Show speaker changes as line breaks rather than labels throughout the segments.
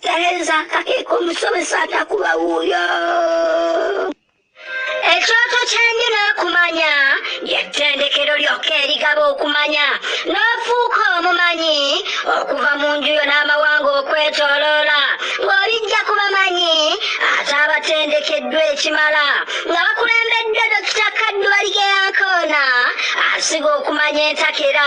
Tereza kake kumusomesa atakuba wuyo ekyoto kyange n'okumanya yettendekero lyokka erigaba okumanya n'ofuuka omumanyi okuva mu nju yo n'amawanga okwetoloola ng'olijja ku bamanyi ate abatendekeddwa ekimala nga bakulembeddwa dokita kaddu baligeyankoona asiga okumanya entakera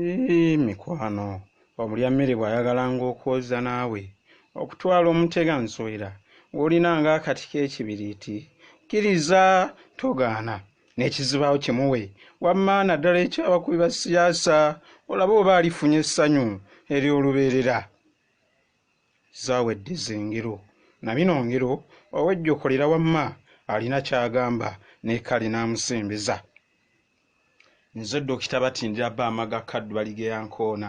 Yii mikwano omulya mmere bwayagalanga okwoza naawe okutwala omutega nsowera gwolinanga akati kekibiriiti kiriza togaana nekizibaawo kimuwe wamma naddala ekyabakubi ba siyaasa olabe oba alifunye essanyu eryolubeerera zawedde zengero nabino ngero owejjokolera wamma alina kyagamba nekale namusembeza. nze dokita batindira bba amaga kaddu baligeya nkoona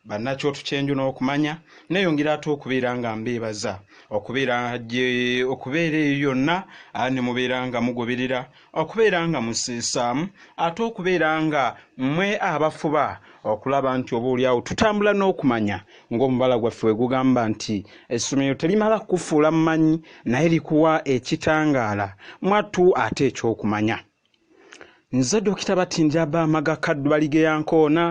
bannakyotu kyenju n'okumanya neyongera ate okubeera nga mbeebaza okubeera gye okubeera eyo yonna ne mubeera nga mugoberera okubeera nga museesaamu ate okubeera nga mwe abafuba okulaba nti oba olyawo tutambula n'okumanya ng'omubala gwaffe we gugamba nti essomero terimala kukufuula mumanyi naye likuwa ekitangaala mwattu ate ekyokumanya Nze Dokita Batindira Bamaga Kaddubali ge yankoona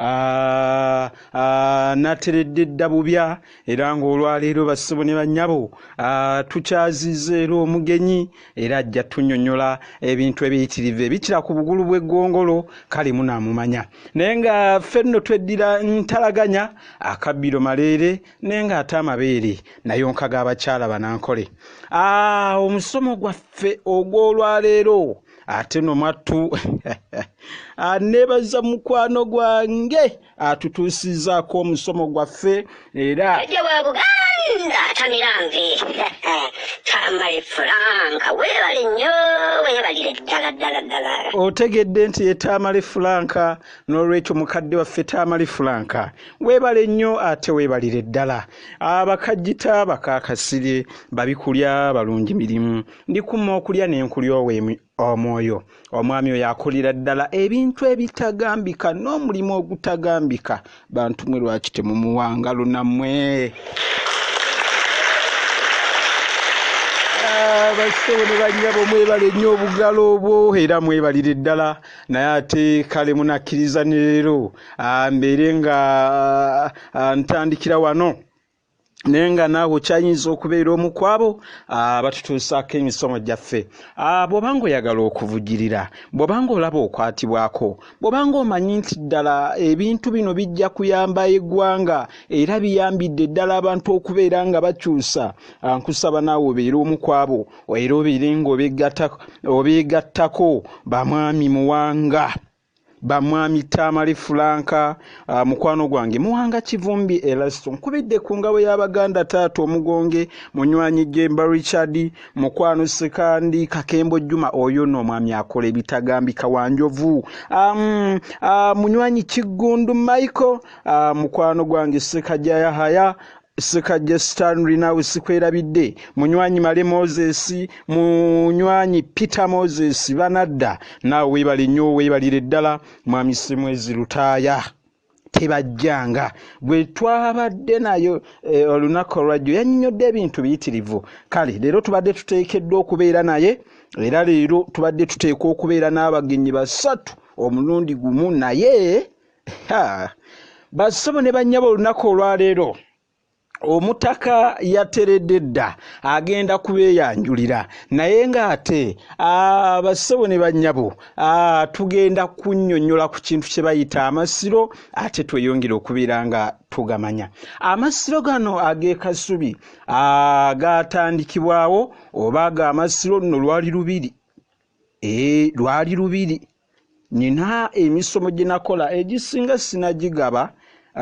Ah, ah, nateredde dda bubya era ng'olwaleero bassebo ne bannyabo ah, tukyaziza era omugenyi era ajja tunyonyola ebintu ebiyitirivu ebikira ku bugulu bw'eggongolo kale munaamumanya naye nga ffe nno tweddira ntalaganya akabbiro maleere naye ng'ate amabeere nayonka g'abakyala banankole ah, omusomo gwaffe ogw'olwaleero ate no mwattu aneebaza ah, mukwano gwange atutuusizaako omusomo gwaffe era tamiranve tambale fulanka weebale nnyo weebalire
ddala ddala ddala otegedde nti
ye tamale fulanka n'olwekyo mukadde waffe tamale fulanka Weebale nnyo ate weebalire ddala. Abakajjita bakaakasire, babi kulya, balungi mirimu. Ndikuma okulya ne nkulyowa omwoyo. Omwami oyo akolera ddala ebintu ebitagambika n'omulimu ogutagambika. Bantu mwe lwaki temumuwa ngalo nammwe? basebo ne bannyabo mwebale nnyo obugalo obwo era mwebalire ddala naye ate kale munakkiriza ne leero Ah, mbeere nga ah, ah, ntandikira wano naye nga naawe okyayinza okubeera omu kwabo abatutuusaako emisomo gyaffe bw'oba nga oyagala okuvugirira bw'oba nga olaba okwatibwako bw'oba nga omanyi nti ddala ebintu bino bijja kuyamba eggwanga era biyambidde ddala abantu okubeera nga bakyusa nkusaba naawe obeere omu kwabo era obeere nga obeegattako bamwami muwanga Bamwami Tamale Fulanka, ah, mukwano gwange Muwanga Kivumbi Elasto nkubidde ku ngabo y'Abaganda Taata Omugonge, Munywanyi Jemba Richard, Mukwano Sekandi, Kakembo Juma oyo no omwami akola ebitagambika wa Njovu, um, uh, Munywanyi Kiggundu Michael, uh, mukwano gwange Sekajaya Haya, Ssekajja Stanley naawe sikwerabidde, munywanyi Male Moses, munywanyi Peter Moses banadda, naawe weebale nnyo weebalire ddala Mwami Ssemwezi Lutaaya. tebajjanga gwe twabadde nayo eh, olunaku olwajjo yanyinyodde ebintu biyitirivu kale leero tubadde tuteekeddwa okubeera naye era leero tubadde tuteekwa okubeera n'abagenyi basatu omulundi gumu naye bassebo ne bannyabo olunaku olwaleero omutaka yateredde dda agenda kubeeyanjulira naye ng'ate abassebo ne bannyabo tugenda kunnyonnyola ku kintu kye bayita amasiro ate tweyongere okubeera nga tugamanya amasiro gano ag'ekasubi gaatandikibwawo oba ag'amasiro nno lwali lubiri ee lwali lubiri Nina emisomo gye nakola egisinga sinagigaba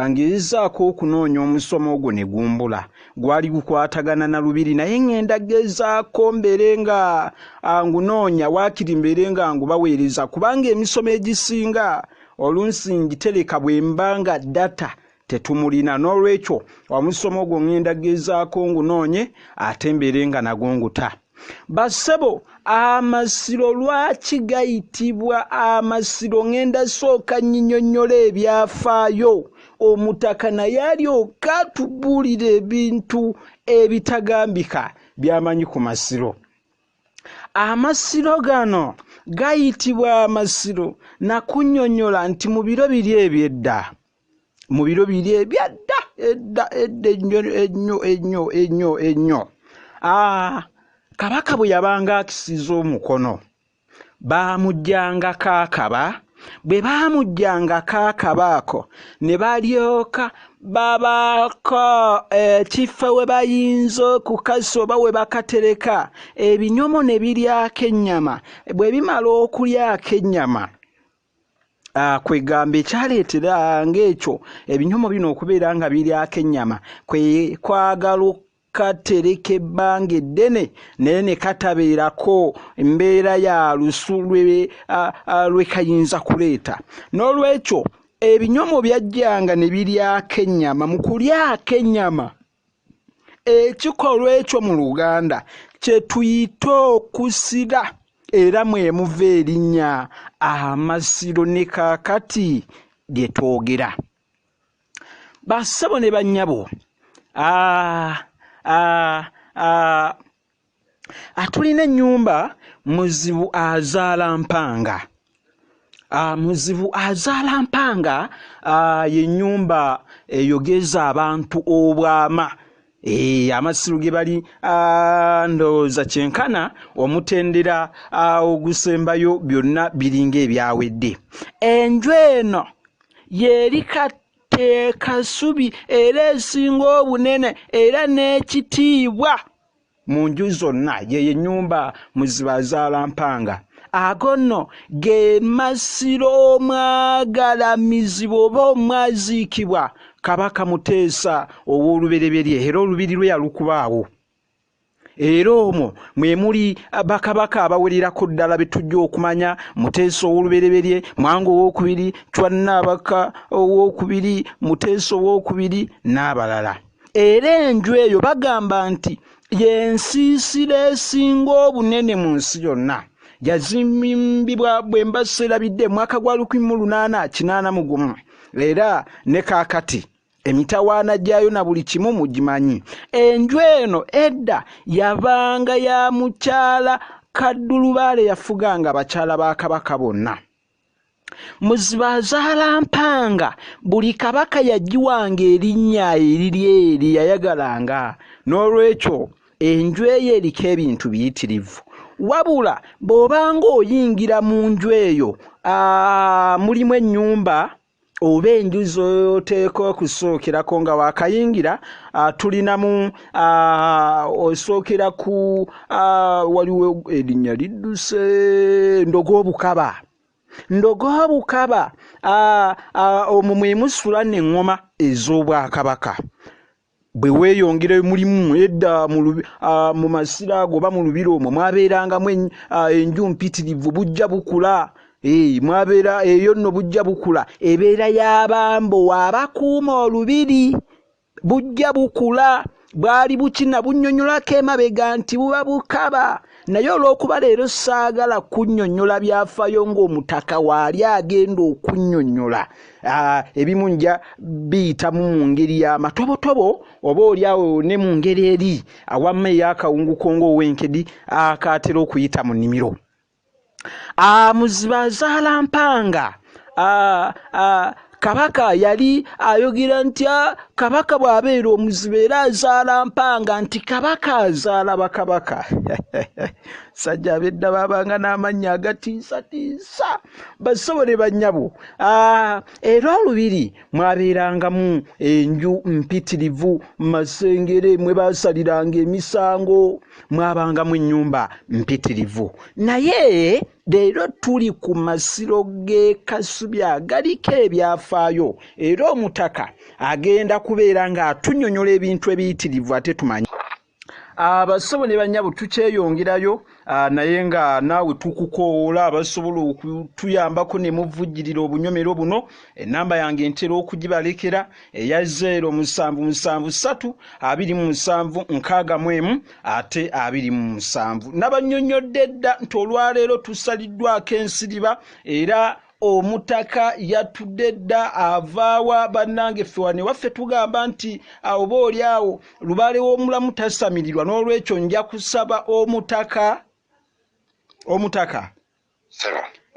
ngezaako okunoonya omusomo ogwo ne gumbula gwali gukwatagana na lubiri naye ŋŋenda gezaako mbeere nga ngunoonya waakiri mbeere nga ngubaweereza kubanga emisomo egisinga olunsi ngitereka bwe mba nga data tetumulina n'olwekyo omusomo ogwo ŋŋenda gezaako ngunoonye ate mbeere nga nago nguta bassebo amasiro lwaki gayitibwa amasiro ŋŋenda sooka nyinyonnyola ebyafaayo omutaka naye alyoka tubuulira ebintu ebitagambika byamanyi ku masiro amasiro gano gayitibwa amasiro nakunyonyola nti mu biro biri ebyedda mu biro biri ebyadda edda edda ennyo ennyo ennyo ennyo ennyo ah, kabaka bwe yabanga akisiza omukono baamujjangako akaba bwe baamujjangako akaba ako ne balyoka babaako ekifo eh, we bayinza okukasa oba we bakatereka ebinyomo ne biryako ennyama bwe bimala okulyako ennyama Ah, kwegamba ekyaleetera ng'ekyo ebinyomo bino okubeera nga biryako ennyama kwe kwagala katereka ebbanga eddene naye ne katabeerako mbeera ya lusu lwe kayinza kuleeta n'olwekyo ebinyomo byajjanga ne biryako ennyama mu kulyako ennyama ekikolwa ekyo mu luganda kye tuyita okusira era mwemuva erinnya amasiro ne kaakati lye twogera bassebo ne bannyabo atulina ennyumba muzibu azaala mpanga ah, muzibu azaala mpanga ah, yennyumba eyogeza abantu obwama Ee, eh, amasiru ge bali ah, ndowooza kyenkana omutendera ah, ogusembayo byonna biringa ebyawedde enju eno yeri katteekasubi era esinga obunene era n'ekitiibwa mu nju zonna yeyo ennyumba mu zibazaala mpanga ago nno ge masiro omwagalamizibwa oba omwaziikibwa kabaka muteesa ow'olubereberye era olubiri lwe yalukubaawo era omwo mwe muli bakabaka abawererako ddala be tujja okumanya muteesa ow'olubereberye mwanga owokubiri cwannaabaka owokubiri muteesa owokubiri n'abalala era enju eyo bagamba nti yensiisira esinga obunene mu nsi yonna yazimbibwa bwe mba serabidde mwaka gwa lukumi mu lunaana kinaana mu gumu era ne kaakati emitawaana gyayo na buli kimu mugimanyi enju eno edda yabanga ya mukyala kaddulubaale yafuganga abakyala ba kabaka bonna muzibazalampanga buli kabaka yagiwanga erinnya eriri eri yayagalanga n'olwekyo enju eyo eriko ebintu biyitirivu wabula bw'obanga oyingira mu nju eyo mulimu ennyumba oba enju z'oteeka okusookirako nga waakayingira ah, tulinamu ah, osookera ku ah, waliwo erinnya lidduse ndoga obukaba ndoga obukaba omwo mwe musula n'eŋŋoma ez'obwakabaka bwe weeyongerayo mulimu edda mu masira ago oba mu lubiri omwo mwabeerangamu enju mpitirivu bujja bukula mwabeera eyo nno bujja bukula ebeera y'abambo waabakuuma olubiri bujja bukula bwali bukina bunnyonnyolako emabega nti buba bukaba naye olw'okuba leero saagala kunnyonnyola byafaayo ng'omutaka waali agenda okunnyonnyola ah, ebimu nja biyitamu mu ngeri y'amatobotobo oba oli awo ne mu ngeri eri awamma ey'akawunguko ng'ow'enkedi akaatera okuyita mu nnimiro Ah, muziba azaala mpanga ah, ah, kabaka yali ayogera nti ah, kabaka bw'abeera omuziba era azaala mpanga nti kabaka azaala bakabaka sajja abedda babanga n'amannya agatiisatiisa basobole bannyabo ah, era olubiri mwabeerangamu enju mpitirivu masengere mwe basaliranga emisango mwabanga mu nnyumba mpitirivu naye leero tuli ku masiro g'e kasubi agaliko ebyafaayo era omutaka agenda kubeera ng'atunyonyola ebintu ebiyitirivu ate tumanyi abasobo ne banyabo tukyeyongerayo ah, naye nga naawe tukukoola abasobola okutuyambako ne muvujjirira obunyomero buno enamba yange ntera okugibalekera eya zeero musanvu musanvu ssatu abiri mu musanvu nkaaga mu emu ate abiri mu musanvu nabanyonyodde dda nti olwaleero tusaliddwako ensiriba era omutaka yatudde dda avaawa bannange ffe wano ewaffe tugamba nti oba oli awo lubaale w'omulamu tasamirirwa n'olwekyo nja kusaba omutaka omutaka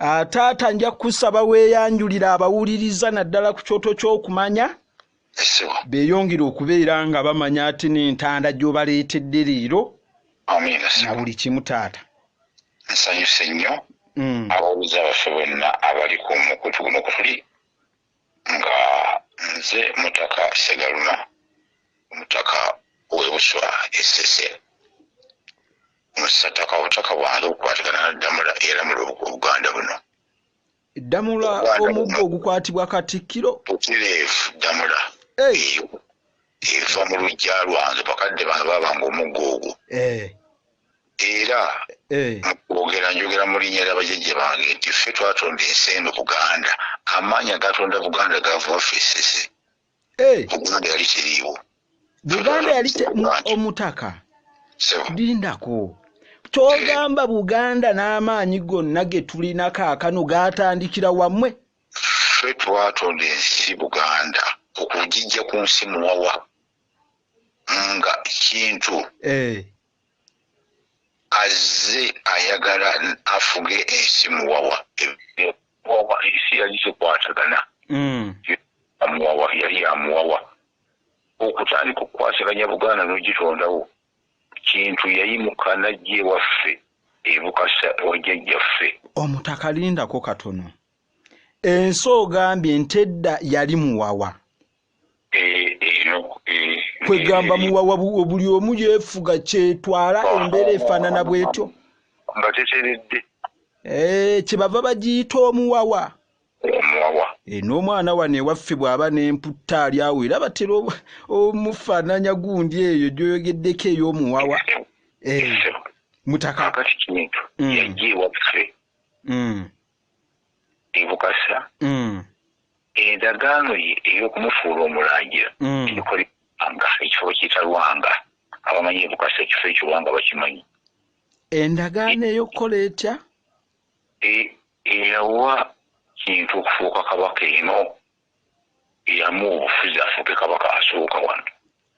Ah, taata nja kusaba weeyanjulira abawuliriza naddala ku kyoto ky'okumanya beeyongere okubeera nga bamanya ati n'entanda gy'obaleetedde leero na buli kimu taata nsanyuse
nnyo mm. abawuliza baffe bonna abali ku mukutu guno kutuli nga nze mutaka segaluma omutaka w'ebuswa esese Mu ssaddaaka obutaka bwange bukwatagana na Ddamula eyalamula Obuganda buno. Ddamula
omuggo ogukwatibwa Katikkiro? Butereevu
Ddamula eyo eva mu luggya lwange bakadde bange baabanga omuggo ogwo. Eh. Era eh. mu kwogera njogera mu linnya lya bajajja bange nti ffe twatonda ensi eno Buganda. Amaanyi agatonda Buganda gaava waffe Ssese. Eh. Buganda yali teriiwo. Buganda
yali omutaka. Lindako. Kyogamba Buganda n'amaanyi gonna ge tulina kaakano gaatandikira wamwe. Ffe
twatonda ensi Buganda okugijja ku nsi muwawa nga kintu. Eh. azze ayagala afuge ensi muwawa muwawa ensi yali zikwatagana hmm. amuwawa yali amuwawa okutandika okukwasaganya buganda n'ogitondawo kintu yayimuka najja ewaffe ebukasa wajjajjaffe omutaka
lindako katono ensi ogambye ntedda yali muwawa kwegamba muwawa buli omu yefuga kyetwala embeera efaanana bwetyo nga
teteredde eh,
kyebava bagiyita omuwawa omuwawa
eh, n'omwana wano ewaffe
bw'aba n'emputta ali awo era batera omufaananya gundi eyo gyoyogeddeko ey'omuwawa eh, mutaka kati kintu mm.
yajja ewaffe mm. e Bukasa mm. endagaano ye ey'okumufuula omulangira mm. ebikolebanga ekifo bakiyita Lwanga abamanyi e Bukasa ekifo ekyo Lwanga bakimanyi endagaano
ey'okukola etya e, eyawa
kintu okufuuka kabaka eno eyamuwa obufuzi afuuke kabaka asooka wano.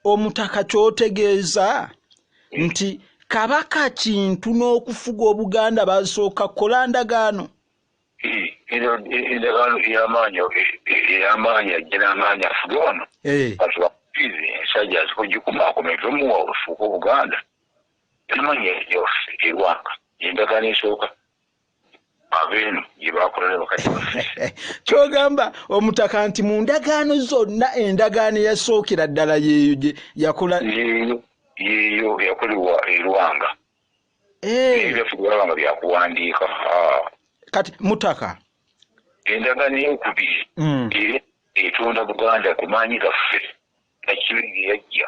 Omutaka
kyotegeeza hmm. nti kabaka kintu n'okufuga obuganda basooka kola ndagaano eh,
endagaano eyamaanyi eyamaanyi ajja n'amaanyi afuge wano eh. atubakubiizi ensajja azikugikumaakuma evemuwa olufuuka obuganda yamaanyi yaffe erwanga endagaano esooka abeeno gyebakola ne bakadde baffe kyogamba
omutaka nti mu ndagaano zonna endagaano eyasookera ddala yeeyo gye yakola yeeyo yeeyo
yakolebwa erwanga ebyaffe eh. byalaba nga byakuwandiika
kati mutaka endagaano
eyokubiri hmm. era etonda buganda ku maanyi gaffe nakibe geyajja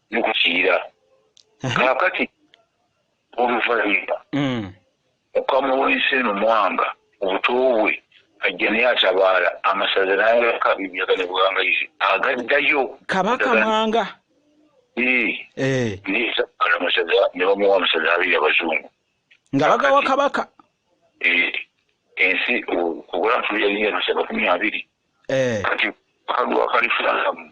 ne ku Kiyira. Kaakati oluvannyuma mm. Mukama w'ensi eno Mwanga obuto bwe ajja naye atabaala amasaza n'ayaka ebiyaga ne buwangayizi agaddayo Kabaka Mwanga
eh.
nezaala amasaza ne bamuwa
amasaza
abiri abazungu
nga
bagawa Kabaka eh, ensi okugola ntuyalinga amasaza makumi abiri eh. kati kalwa kalifunamu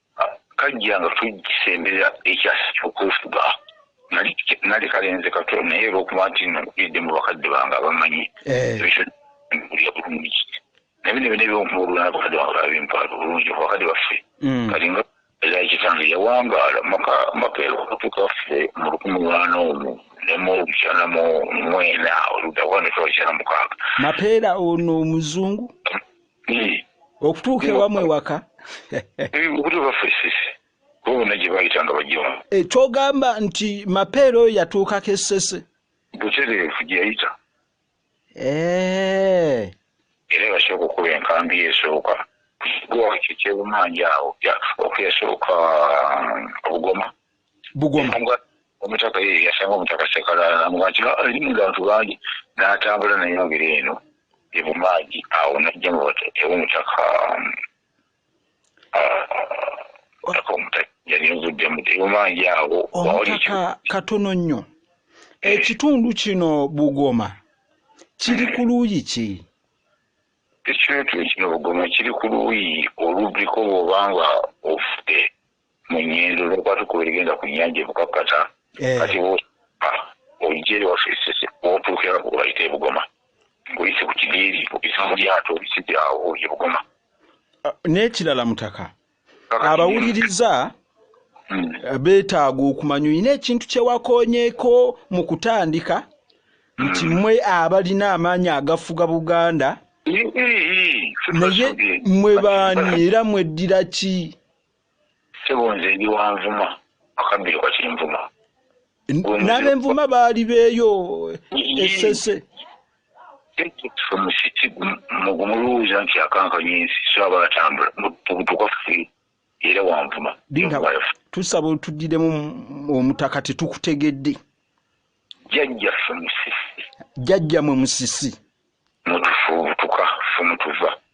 Kajja nga tugisembera ekyasa ky'okwefuga. Nali kalenze kato naye olw'okuba nti nno nkulidde mu bakadde bange abamanyi ebyo nkulira bulungi naye bino byonna eby'okubuulula n'abakadde bange baabimpaala bulungi mu bakadde baffe kati nga era kitange yawangaala maka maka okutuuka ffe mu lukumi lwana omu ne mu lukyana mu mwena oludda kuba ne tuba lukyana mukaaga. Mapeera ono
omuzungu? hmm. okutuuka ewamu ewaka hmm,
okutubafesisi bona gye bayitanga bajjamu eh, kyogamba nti
mapeera oyo yatuukako essese butereevu
gye yayita eh. era yasooka okuba enkambi esooka gwakyo kyebumanja awo okuyasooka um, obugoma bugoma omutaka ye yasanga omutaka sekalala namuga nti ah, erimu abantu bangi n'atambula nayongera eno ebumaagi awo najja mu ewomutaka um, ah, omutaka yali nvuddemu ebumaagi awo omutaka
katono nnyo eh. ekitundu kino bugoma kiri ku luuyi ki
ekitundu kino bugoma kiri ku luuyi oluddiko bw'oba nga ofudde mu nyendo lwokuba tukuba erigenda ku nyanja ebukakkata eh. kati ojja eri waffe esese wotuukira obayita ebugoma ngoyise ku kidiiri obisa mu lyato obisibye awo ebugoma ah, n'ekirala
mutaka abawuliriza hmm. eh, beetaaga okumanya olina ekintu kyewakonyeeko mu kutandika hmm. nti mwe abalina amaanyi agafuga buganda naye mwe baani era mweddira ki Sebo
nze ndi wanvuma akabbiro kati nvuma
nabenvuma baali beeyo esese
musiti mugumuluwuza nti akankanya ensi so aba atambula mubutuka ffe era wanvuma tusaba
otudiremu omutaka tetukutegedde
jajja ffe musisi jajja mwe
musisi mutufubutuka
ffe mutuva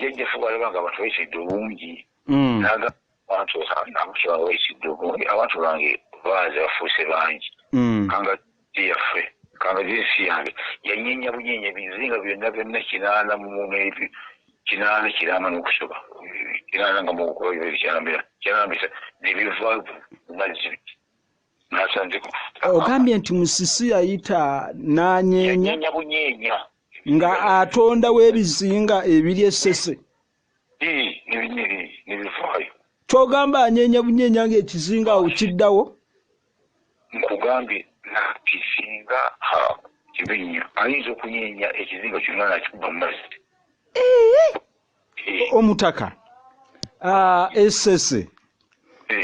Jajja fuba alaba nga abantu bayisidde obungi mm. naga abantu abantu banga bayisidde obungi abantu bange baaze bafuuse bangi mm. kanga yaffe kanga zinsi yange yanyenya bunyenya ebizinga byonna byonna kinaana mumuneebi kinaana kirama n'okusoba kinaana nga mukubaibiri kyanambisa nebivaavu mazzi ogambye
nti musisi yayita nanyeenya
nga
atonda webizinga ebiri esese
kyogamba
anyeenya bunyeenya nga ekizinga awo kiddawo
nkugambye nakisinga kibinya ayinza okunyeenya ekizinga kyonna nakikuba mumazzi
omutaka esese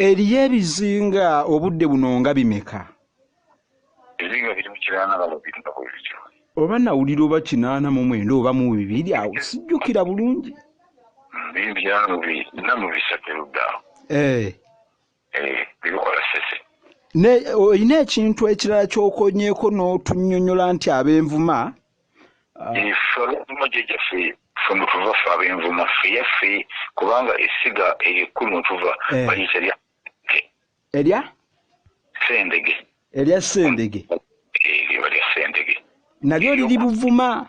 eriyo ebizinga obudde buno nga bimeka
ebizinga biri mu kiraana balo biri nga bwe bityo oba
nawulira oba kinaana mu mwenda oba mu bibiri awo sijjukira bulungi bibyamu bina mu bisatu erudda
awo eh. olina
ekintu ekirala kyokonyeko n'otunyonyola nti abenvuma
femutuva fe abenvuma feyaffe kubanga esiga eryo ekkulu mutuva eh. bayita erya
erya
sendege erya
sendege eh, eryo lya
sendege nalyo liri
buvuma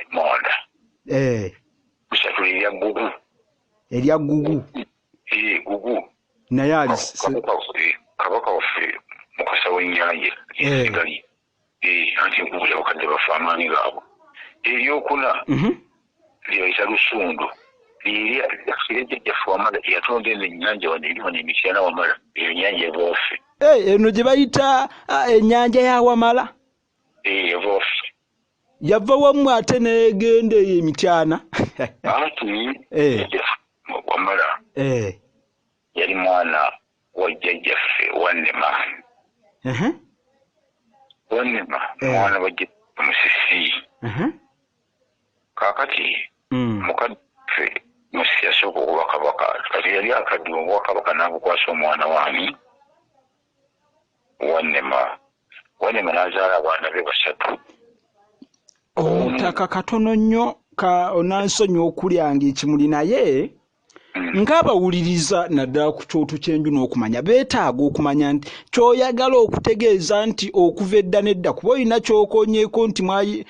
emmonda eh. bisatula erya gugu erya gugu eh, gugu naye kabaka waffe mukasa w'ennyanja egali eh. anti enkubu yabakadde bafe amaanyi gaabwe eryokuna mhm. lyebayita lusundu lyeryakirejejafuwamala yatonda eno ennyanja wano eri wano emityana wamala eyo nyanja eboofe eno gye bayita
ah, ennyanja ya wamala
yava
wamu ate negenda eyo emityana
eh. wamala eh. yali mwana wa jjajjaffe wanema wanema eh. mwana wa jjajjaffe musisi kakati mm. mukadfe musisi yasooka okuba kabaka kati yali akadde obwakabaka nabukwasa omwana wani Wannema. Wannema n'azaala abaana be basatu.
Omutaka katono nnyo ka onansonyi okulyanga ekimuli naye mm. ng'abawuliriza naddala ku kyoto ky'enju n'okumanya beetaaga okumanya nti kyoyagala okutegeeza nti okuva edda n'edda kuba olina kyokonyeeko nti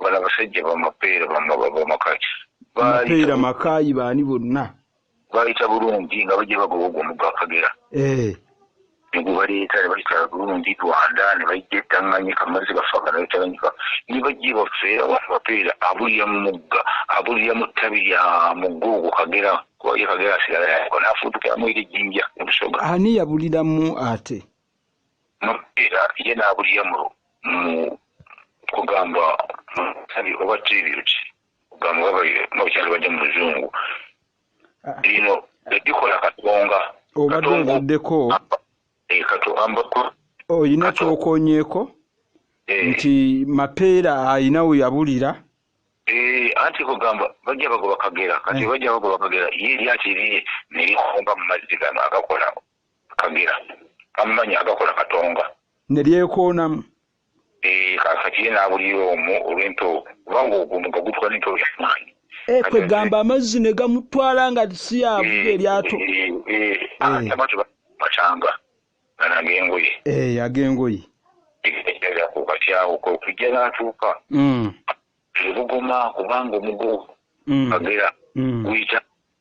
Bano abasajja bamapeera bamakaki mapeera
makaayi baani bonna baayita
bulungi nga bajja bagoba ogwo omugga akagera eh. ne gwe baleeta ne bayita bulungi rwanda ne bajja etanganyika amazzi gafaga ne batanganyika ne bajja ebaffe abantu bapeera abulira mu mugga abulira mu ttabi lya mugga ogwo kagera kuba ye kagera asigala yako n'afuutukiramu eri ejjinja ne busoga ani yabuliramu
ate Mupiira
ye n'abulyamulu mu kugamba mu nsabi oba tribute kugamba oba bayo n'obukyali bajja mu luzungu ah. bino bebikola katonga obadde ovuddeko
eh,
olina
kyokonyeeko eh. nti mapeera alina we yabulira eh,
anti kugamba bajja bagoba kagera kati bajja bagoba kagera ye lyakiriye nerikomba mu mazzi gano agakolao Kagera kammanyi agakola Katonga. Ne lyekoonamu.
Eeh
kaakati ye n'abulira omwo olw'empewo kubanga ogwo omugga gutuka n'empewo ya maanyi. Eeh kwegamba
amazzi ne gamutwala nga si y'avuga eryato. Eeh eeh
eeh. Batanga gano ag'engoye. Eeh ag'engoye. Kati awo kwe kujja n'atuuka e Bugoma kubanga omugo Kagera guyita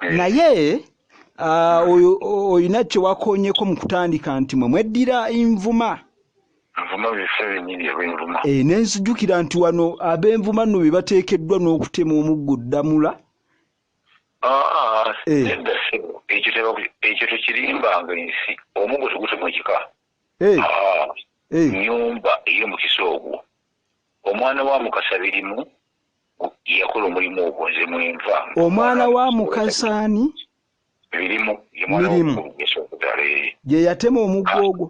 eh. naye ah, olina kyewakonyeko mu kutandika nti mwe mweddira envuma eh, nenzijukira nti wano abenvuma no bebateekeddwa n'okutema omuggo ddamula ah, ah, eh.
ekyo tekirimbanga ensi omuggo tegutema ekika nyumba eyomukisa ogwo omwana wa mukasa birimu yakola omulimu ogwo nze mwenva omwana wa
mukasaani
mirimu
gye yatema omuggo ah, ogwo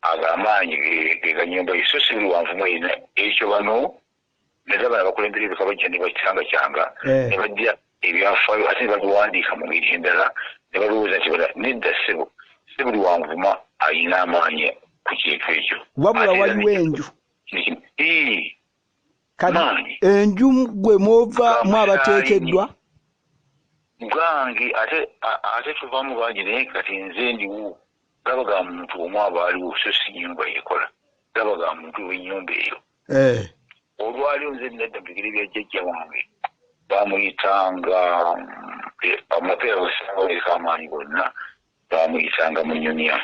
ago amaanyi
geganyumba ye so si buli wanvumu erina ekyo bano naza bana bakulembera ebika bajja ne bacangakyanga eh. ne bajja ebyafaayo ate ne babiwandiika mu ngeri endala ne balowooza nti bala nedda ssebo si buli wanvuma alina amaanyi ku kintu ekyo wabula waliwo enju
kati enju gwe mwova mu abateekeddwa
gange ate ate tuva mu bangi naye kati nze ndiwo gaba ga muntu omu aba aliwo so si nyumba yekola gaba ga muntu wenyumba eyo eh. olwalio nze nadda mubigere bya jjajja wange bamuyitanga eh, amapeera wesaaweka amaanyi gonna bamuyitanga munyonya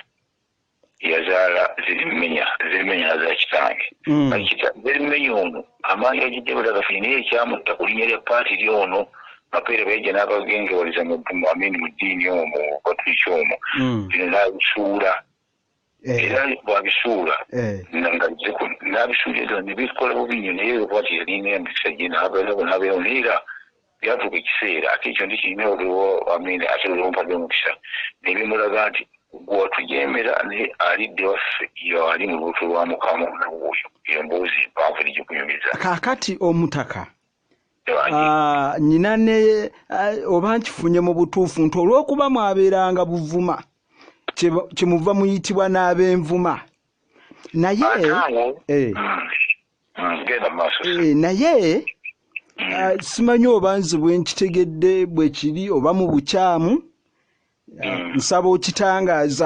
yazaala zirimenya zirimenya nazaala kitange mm. zirimenya ono amaanyi agijja balagafuni naye ekyamutta ku linya lya paati ly ono mapeere baija n'abagengewaliza amini mu ddiini omu batuliki omu mm. bino n'abisuula eh. era bwabisuula eh. n'abisuula ebyo nebikola bubi nyo naye lwaki yalina emikisa gye n'abeerawo n'abeerawo naye era Byatuuka ekiseera ate ekyo ndikirina oluwo, amiina, ate oluwo mpadde omukisa, ne bimulaga nti, Ggwe watujeemera, naye alidda ewaffe yo ali mu lubuto lwa Mukama na wuuyo. Eyo mboozi mpanvu tegikunyumiza. Kaakati, Omutaka,
a, nnina ne, a, oba nkifunye mu butuufu nti olw'okuba mwabeeranga Buvuma, kye, kyemuva muyitibwa n'Abenvuma. Naye, Ate awo, e. mm, Mm, genda mu maaso. Eh, naye Mm. ah, simanyi oba nze bwe nkitegedde bwe kiri oba mu bukyamu ah, Mm. nsaba okitangaaza